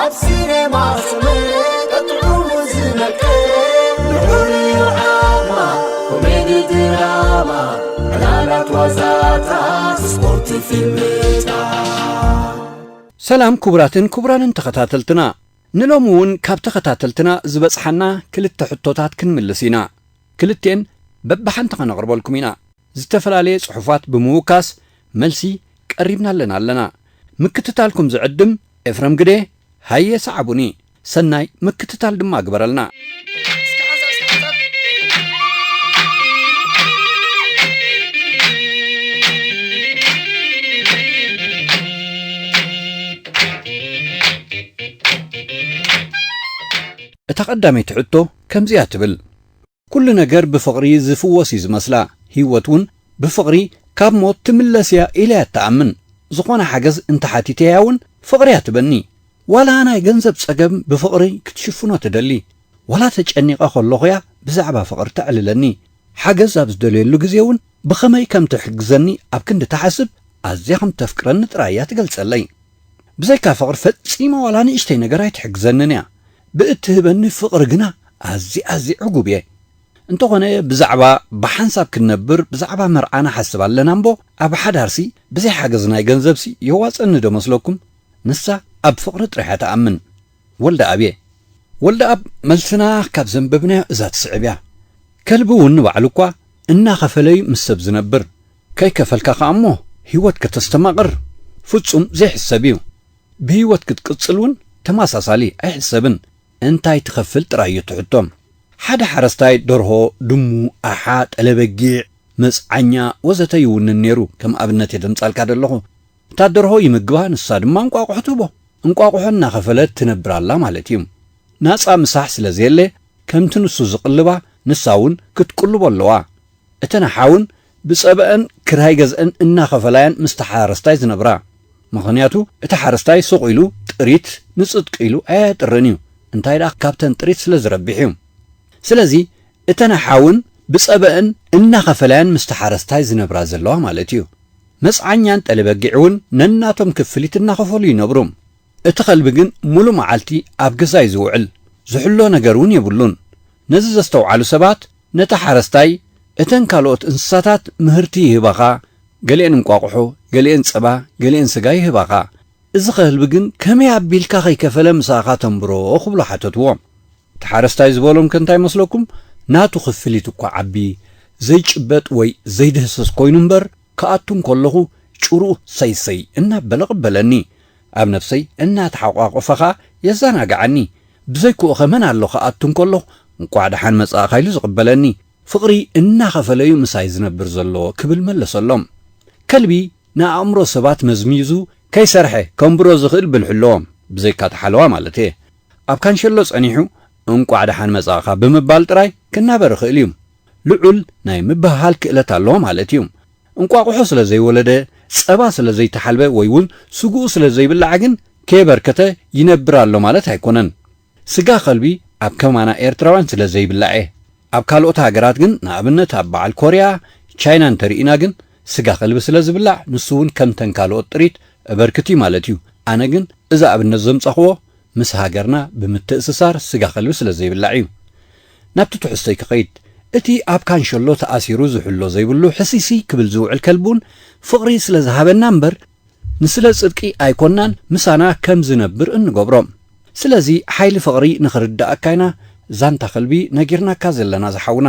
ኣብ ሲነማ ስምር ቀጥዑሙ ዝነቅል ልዑል እዩ ዓቕማ ኮሜዲ ድራማ ዕላላት ዋዛታት ስፖርት ፊልምታት ሰላም ክቡራትን ክቡራንን ተኸታተልትና ንሎሚ እውን ካብ ተኸታተልትና ዝበጽሓና ክልተ ሕቶታት ክንምልስ ኢና ክልቴን በብሓንቲ ከነቕርበልኩም ኢና ዝተፈላለየ ጽሑፋት ብምውካስ መልሲ ቀሪብና ኣለና ኣለና ምክትታልኩም ዝዕድም ኤፍረም ግደ ሃየ ሰዓቡኒ ሰናይ ምክትታል ድማ ግበረልና። እታ ቀዳመይቲ ሕቶ ከምዚ'ያ ትብል። ኩሉ ነገር ብፍቕሪ ዝፍወስ እዩ ዝመስላ፣ ህይወት እውን ብፍቕሪ ካብ ሞት ትምለስ እያ ኢለ እያ እትኣምን። ዝኾነ ሓገዝ እንተሓቲተያ እውን ፍቕሪ እያ ትበኒ። ዋላ ናይ ገንዘብ ፀገም ብፍቕሪ ክትሽፍኖ ትደሊ። ዋላ ተጨኒቐ ከለኹ እያ ብዛዕባ ፍቕሪ ተዕልለኒ። ሓገዝ ኣብ ዝደልየሉ ግዜ እውን ብኸመይ ከም ትሕግዘኒ ኣብ ክንዲ ትሓስብ ኣዝያ ከም እተፍቅረኒ ጥራይ እያ ትገልፀለይ። ብዘይካ ፍቕሪ ፈጺመ ዋላ ንእሽተይ ነገር ኣይትሕግዘንን እያ። ብእትህበኒ ፍቕሪ ግና ኣዝየ ኣዝየ ዕጉብ እየ። እንተኾነ ብዛዕባ ብሓንሳብ ክንነብር ብዛዕባ መርዓ ንሓስብ ኣለና እምቦ ኣብ ሓዳርሲ ብዘይ ሓገዝ ናይ ገንዘብሲ የዋጽኣኒ ዶ መስለኩም? ንሳ ኣብ ፍቕሪ ጥራሕ እያ ትኣምን። ወልደኣብ እየ። ወልደኣብ መልስና ካብ ዘንበብናዮ እዛ ትስዕብ እያ። ከልቢ እውን ንባዕሉ እኳ እናኸፈለ'ዩ ምስ ሰብ ዝነብር። ከይከፈልካ ከኣ'ሞ ህይወት ከተስተማቕር ፍጹም ዘይሕሰብ እዩ። ብህይወት ክትቅጽል ውን ተመሳሳሊ ኣይሕሰብን፣ እንታይ ትኸፍል ጥራይ እዩ እቲ ሕቶ። ሓደ ሓረስታይ ደርሆ፣ ድሙ፣ ኣሓ፣ ጠለ-በጊዕ፣ መጽዓኛ ወዘተ ይውንን ነይሩ፣ ከም ኣብነት እየ ዘምጻልካ ዘለኹ። እታ ደርሆ ይምግባ ንሳ ድማ እንቋቑሖ ትህቦ። እንቋቑሖ እናኸፈለት ትነብር ኣላ ማለት እዩ። ናጻ ምሳሕ ስለ ዘየለ ከምቲ ንሱ ዝቕልባ ንሳ ውን ክትቅልቦ ኣለዋ። እተን ኣሓውን ብጸበኣን ክራይ ገዝእን እናኸፈላ'የን ምስቲ ሓረስታይ ዝነብራ። ምኽንያቱ እቲ ሓረስታይ ሱቕ ኢሉ ጥሪት ንጽጥቂ ኢሉ ኣየጥርን'ዩ፣ እንታይ ደኣ ካብተን ጥሪት ስለ ዝረብሕ'ዩ። ስለዚ እተን ኣሓውን ብጸበኣን እናኸፈላ'የን ምስቲ ሓረስታይ ዝነብራ ዘለዋ ማለት'ዩ። መጽዓኛን ጠሊ-በጊዕ'ውን ነናቶም ክፍሊት እናኸፈሉ ይነብሩ። እቲ ከልቢ ግን ሙሉእ መዓልቲ ኣብ ገዛ እዩ ዝውዕል፣ ዝሕሎ ነገር እውን የብሉን። ነዚ ዘስተውዓሉ ሰባት ነቲ ሓረስታይ እተን ካልኦት እንስሳታት ምህርቲ ይህባኻ፣ ገሊኤን እንቋቑሖ፣ ገሊኤን ፀባ፣ ገሊኤን ስጋ ይህባኻ፣ እዚ ከልቢ ግን ከመይ ኣቢልካ ከይከፈለ ምሳኻ ተንብሮ ክብሉ ሓተትዎ። እቲ ሓረስታይ ዝበሎም ከ እንታይ መስለኩም? ናቱ ክፍሊት እኳ ዓቢ፣ ዘይጭበጥ ወይ ዘይድህሰስ ኮይኑ እምበር ክኣቱ እንከለኹ ጭርኡ ሰይ ሰይ እናበለ ቕበለኒ። ኣብ ነፍሰይ እናተሓቋቖፈ ኸኣ የዛናግዓኒ። ብዘይክኡኸ መን ኣሎ ክኣቱ እንከለኹ እንቋዕ ደሓን መጻእካ ኢሉ ዝቕበለኒ። ፍቕሪ እናኸፈለ'ዩ ምሳይ ዝነብር ዘሎ ክብል መለሰሎም። ከልቢ ንኣእምሮ ሰባት መዝሚዙ ከይሰርሐ ከንብሮ ዝኽእል ብልሒ ኣለዎ፣ ብዘይካ'ቲ ሓለዋ ማለት'የ። ኣብ ካንሸሎ ጸኒሑ እንቋዕ ደሓን መጻእካ ብምባል ጥራይ ክናበር ይኽእል'ዩ። ልዑል ናይ ምብህሃል ክእለት ኣለዎ ማለት እዩ። እንቋቑሖ ስለ ዘይወለደ፣ ጸባ ስለ ዘይተሓልበ ወይ እውን ስግኡ ስለ ዘይብላዕ ግን ከየበርከተ ይነብር ኣሎ ማለት ኣይኮነን። ስጋ ከልቢ ኣብ ከማና ኤርትራውያን ስለ ዘይብላዕ'የ። ኣብ ካልኦት ሃገራት ግን ንኣብነት ኣብ በዓል ኮርያ፣ ቻይና እንተርኢና ግን ስጋ ከልቢ ስለ ዝብላዕ ንሱ እውን ከምተን ካልኦት ጥሪት እበርክት'ዩ ማለት እዩ። ኣነ ግን እዚ ኣብነት ዘምጻኹዎ ምስ ሃገርና ብምትእስሳር ስጋ ከልቢ ስለ ዘይብላዕ እዩ። ናብቲ ትሕዝቶይ ክኸይድ፣ እቲ ኣብ ካንሸሎ ተኣሲሩ ዝሕሎ ዘይብሉ ሕስይስይ ክብል ዝውዕል ከልቢ ውን ፍቕሪ ስለ ዝሃበና እምበር ንስለ ጽድቂ ኣይኮናን ምሳና ከም ዝነብር እንገብሮ። ስለዚ ሓይሊ ፍቕሪ ንኽርድኣካ ኢና ዛንታ ከልቢ ነጊርናካ ዘለና ዝሓውና።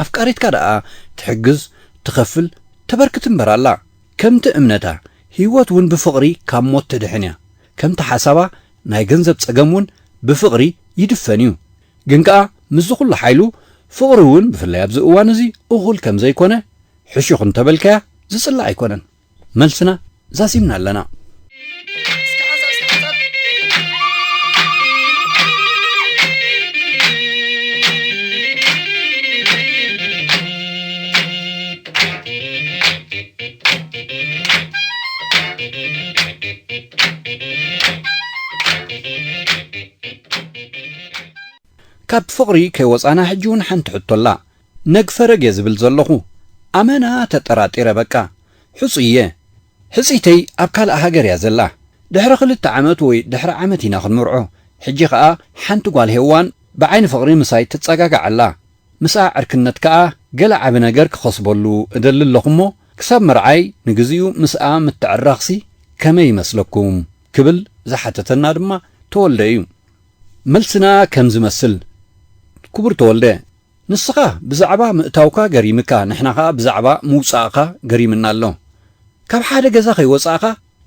ኣፍቃሪትካ ደኣ ትሕግዝ፣ ትኸፍል፣ ተበርክት እምበር ኣላ። ከምቲ እምነታ፣ ህይወት ውን ብፍቕሪ ካብ ሞት ተድሕን እያ። ከምቲ ሓሳባ ናይ ገንዘብ ጸገም ውን ብፍቕሪ ይድፈን እዩ ግን ከኣ ምስዚ ኩሉ ሓይሉ ፍቕሪ ውን ብፍላይ ኣብዚ እዋን እዚ እኹል ከምዘይኮነ ሕሹኽ እንተበልካያ ዝጽላእ ኣይኮነን መልስና ዛዚምና ኣለና። ካብ ፍቕሪ ከይወጻና ሕጂ ውን ሓንቲ ሕቶ ኣላ ነግ ፈረግ እየ ዝብል ዘለኹ ኣመና ተጠራጢረ በቃ ሕጹይ እየ ሕጽይተይ ኣብ ካልእ ሃገር እያ ዘላ ድሕሪ ክልተ ዓመት ወይ ድሕሪ ዓመት ኢና ክንምርዖ ሕጂ ከኣ ሓንቲ ጓል ሄዋን ብዓይኒ ፍቕሪ ምሳይ ትጸጋጋዕ ኣላ ምስኣ ዕርክነት ከኣ ገለ ዓቢ ነገር ክኸስበሉ እደሊ ኣለኹ'ሞ ክሳብ መርዓይ ንግዜኡ ምስኣ ምትዕራኽሲ ከመይ ይመስለኩም? ክብል ዝሓተተና ድማ ተወልደ እዩ። መልስና ከም ዝመስል፣ ክቡር ተወልደ፣ ንስኻ ብዛዕባ ምእታውካ ገሪምካ ንሕና ከኣ ብዛዕባ ምውጻእካ ገሪምና ኣሎ። ካብ ሓደ ገዛ ከይወጻእካ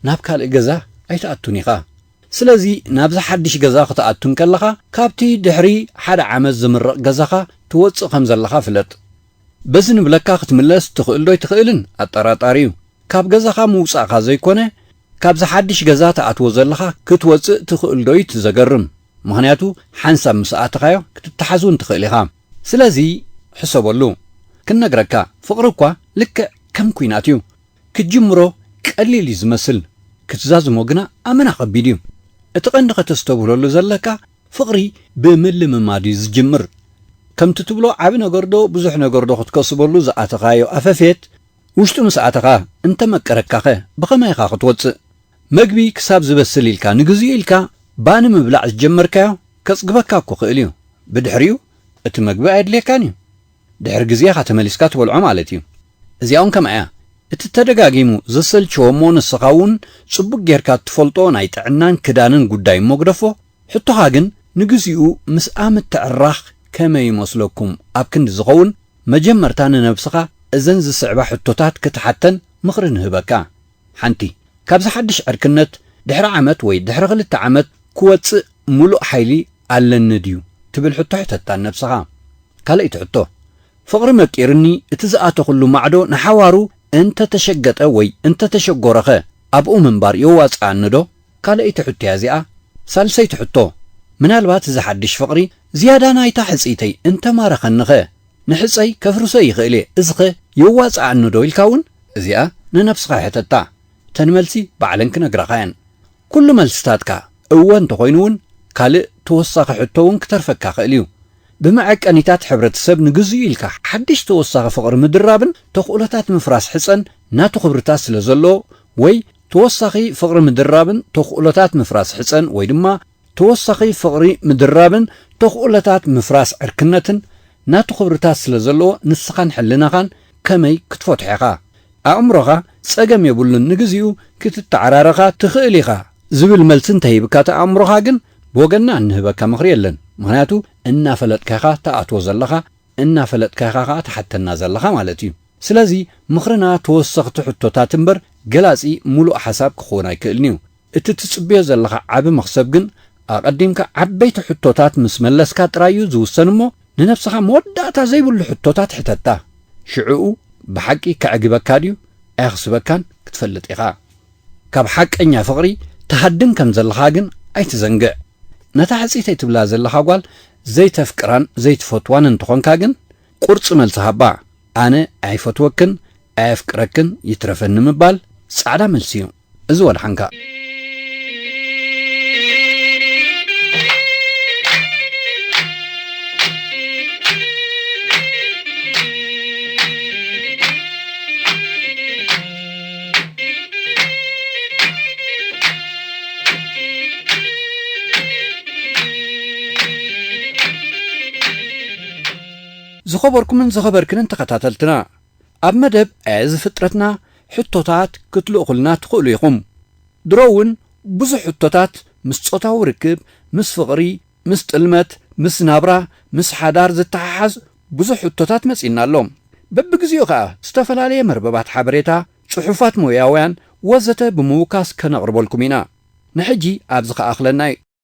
ናብ ካልእ ገዛ ኣይትኣቱን ኢኻ። ስለዚ ናብዚ ሓድሽ ገዛ ክትኣቱ እንከለኻ ካብቲ ድሕሪ ሓደ ዓመት ዝምረቕ ገዛኻ ትወጽእ ከም ዘለኻ ፍለጥ። በዚ ንብለካ ክትምለስ ትኽእል ዶ ኣይትኽእልን ኣጠራጣሪ እዩ። ካብ ገዛኻ ምውጻእካ ዘይኮነ ካብዚ ሓድሽ ገዛ ትኣትዎ ዘለኻ ክትወጽእ ትኽእል ዶ እዩ እቲ ዘገርም። ምኽንያቱ ሓንሳብ ምስ ኣተኻዮ ክትተሓዝ እውን ትኽእል ኢኻ። ስለዚ ሕሰበሉ። ክንነግረካ ፍቕሪ እኳ ልክዕ ከም ኲናት እዩ። ክትጅምሮ ቀሊል እዩ ዝመስል ክትዛዝሞ ግና ኣመና ከቢድ እዩ። እቲ ቀንዲ ከተስተብህለሉ ዘለካ ፍቅሪ ብምልምማድ እዩ ዝጅምር። ከምቲ ትብሎ ዓቢ ነገር ዶ ብዙሕ ነገር ዶ ክትከስበሉ ዝኣተኻዮ ኣፈፌት ውሽጡ ምስ ኣተኻ እንተመቀረካኸ ብኸመይ ኢኻ ክትወጽእ? መግቢ ክሳብ ዝበስል ኢልካ ንግዚኡ ኢልካ ባኒ ምብላዕ ዝጀመርካዮ ከጽግበካ እኮ ክእል እዩ ብድሕሪኡ እቲ መግቢ ኣየድልየካን እዩ። ድሕሪ ግዜ ኢኻ ተመሊስካ ትበልዖ ማለት እዩ። እዚኣውን ከምኣያ እቲ ተደጋጊሙ ዘሰልቸዎ እሞ ንስኻውን ጽቡቅ ጌርካ እትፈልጦ ናይ ጥዕናን ክዳንን ጉዳይ እሞ ግደፎ ሕቶኻ ግን ንግዚኡ ምስኣ ምትዕራኽ ከመይ ይመስለኩም ኣብ ክንዲ ዝኸውን መጀመርታ ንነብስኻ እዘን ዝስዕባ ሕቶታት ክትሓተን ምኽሪ ንህበካ ሓንቲ ካብዚ ሓድሽ ዕርክነት ድሕሪ ዓመት ወይ ድሕሪ ክልተ ዓመት ክወጽእ ምሉእ ሓይሊ ኣለኒ ድዩ ትብል ሕቶ ሕተታ ንነብስኻ። ካልኣይቲ ሕቶ፣ ፍቕሪ መቂርኒ እቲ ዝኣተኹሉ ማዕዶ ንሓዋሩ እንተ ተሸገጠ ወይ እንተ ተሸጎረኸ ኣብኡ ምንባር የዋጽኣኒዶ? ካልኣይቲ ሕቶ'ያ እዚኣ። ሳልሰይቲ ሕቶ፣ ምናልባት እዚ ሓድሽ ፍቕሪ ዝያዳ ናይታ ሕጽይተይ እንተ ማረኸኒኸ? ንሕጸይ ከፍርሶ ይኽእል'የ እዚኸ የዋጽኣኒዶ ኢልካ'ውን እዚኣ ንነብስኻ ሕተታ። እተን መልሲ ባዕለን ክነግራኻ'የን። ኩሉ መልስታትካ እወ እንተኾይኑ እውን ካልእ ተወሳኺ ሕቶ እውን ክተርፈካ ይኽእል እዩ። ብመዐቀኒታት ሕብረተሰብ ንግዝኡ ኢልካ ሓድሽ ተወሳኺ ፍቕሪ ምድራብን ተኽእሎታት ምፍራስ ሕጸን ናቱ ክብርታት ስለ ዘለዎ ወይ ተወሳኺ ፍቕሪ ምድራብን ተኽእሎታት ምፍራስ ሕጸን ወይ ድማ ተወሳኺ ፍቕሪ ምድራብን ተኽእሎታት ምፍራስ ዕርክነትን ናቱ ክብርታት ስለ ዘለዎ ንስኻን ሕልናኻን ከመይ ክትፈትሖ ኢኻ ኣእምሮኻ ጸገም የብሉን ንግዚኡ ክትተዓራረኻ ትኽእል ኢኻ ዝብል መልሲ እንተሂብካ እቲ ኣእምሮኻ ግን ብወገንና እንህበካ ምኽሪ የለን ምኽንያቱ እናፈለጥካ ኢኻ ትኣትዎ ዘለኻ እናፈለጥካ ኢኻ ከኣ ትሓተና ዘለኻ ማለት እዩ ስለዚ ምኽርና ተወሰኽቲ ሕቶታት እምበር ገላጺ ሙሉእ ሓሳብ ክኽውን ኣይክእልን'ዩ እቲ ትጽብዮ ዘለኻ ዓቢ መኽሰብ ግን ኣቐዲምካ ዓበይቲ ሕቶታት ምስ መለስካ ጥራይ እዩ ዝውሰን እሞ ንነብስኻ መወዳእታ ዘይብሉ ሕቶታት ሕተታ። ሽዕኡ ብሓቂ ከዕግበካ ድዩ ኣየኽስበካን ክትፈልጥ ኢኻ። ካብ ሓቀኛ ፍቕሪ ትሃድም ከም ዘለኻ ግን ኣይትዘንግዕ። ነታ ሕጽይተይ ትብላ ዘለኻ ጓል ዘይተፍቅራን ዘይትፈትዋን እንተኾንካ ግን ቁርጺ መልሲ ሃባ። ኣነ ኣይፈትወክን ኣየፍቅረክን ይትረፈኒ ምባል ጻዕዳ መልሲ እዩ። እዚ ወድሓንካ። ዝኸበርኩምን ዝኸበርክንን ተኸታተልትና ኣብ መደብ እዚ ፍጥረትና ሕቶታት ክትልእኹልና ትኽእሉ ኢኹም። ድሮ እውን ብዙሕ ሕቶታት ምስ ጾታዊ ርክብ፣ ምስ ፍቕሪ፣ ምስ ጥልመት፣ ምስ ናብራ፣ ምስ ሓዳር ዝተሓሓዝ ብዙሕ ሕቶታት መጺኡና ኣሎ። በብግዜኡ ከኣ ዝተፈላለየ መርበባት ሓበሬታ፣ ጽሑፋት ሞያውያን ወዘተ ብምውካስ ከነቕርበልኩም ኢና። ንሕጂ ኣብዚ ክኣኽለና እዩ።